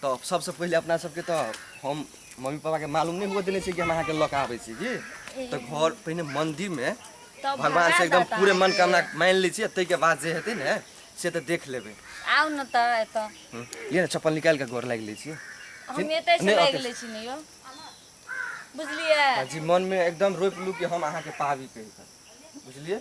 तऽ सबसँ पहिले अपना सबके तऽ हम मम्मी पापाके मालूम नहि हुअ देने छियै कि हम अहाँके लऽ कऽ आबै छी की तऽ घर पहिने मन्दिरमे तब भगवान भगा से एकदम देत पूरे अहाँके। मनकामना मानि लै छियै ताहिके बाद जे हेतै ने से तऽ देख लेबै आउ ने तऽ एतऽ हूँ। लिअ ने चप्पल निकालि कऽ गोर लागि लै छियै हम जी- एतै से नहि, लागि ओतै- लै छी ने यौ बुझलियै आ जी मनमे एकदम रोपि लू कि हम अहाँके पाबी कहिके बुझलियै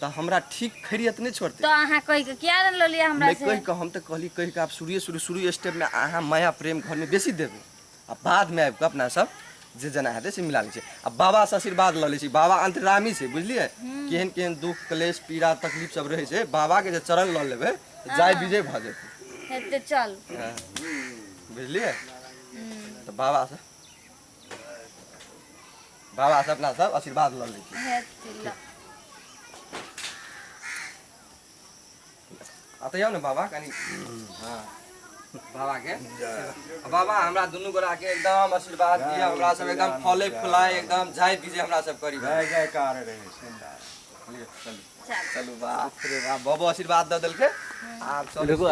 तो हमरा ठीक खैरियत नहीं छोड़ते तो अहा कह के क्या ले लिया हमरा से कह के हम तो कहली कह के आप शुरू शुरू शुरू स्टेप में अहा माया प्रेम घर में बेसी देबे आ बाद में आब के अपना सब जे जना हेतै से मिला लै आ बाबा से आशीर्वाद लऽ लै बाबा अंतरामी छै बुझलियै हम्म। केहन केहन दुख क्लेश पीड़ा तकलीफ सब रहै छै बाबा के जे चरण लऽ लेबै तऽ जाय हाँ। विजय भऽ जेतै चल हाँ। बुझलियै हम्म। तऽ बाबा से बाबा से अपना सब आशीर्वाद लऽ लै छी हे तिल्ला अतऽ जाउ ने बाबा कनि हँ बाबा के आ बाबा हमरा दुनू गोरा के एकदम आशीर्वाद दिया हमरा सब एकदम फले फुलाए एकदम जाय विजय हमरा सब करी जय जयकार रहे सुंदर चल चलू बाप रे बाप बाबा आशीर्वाद दऽ देलकै आब चलू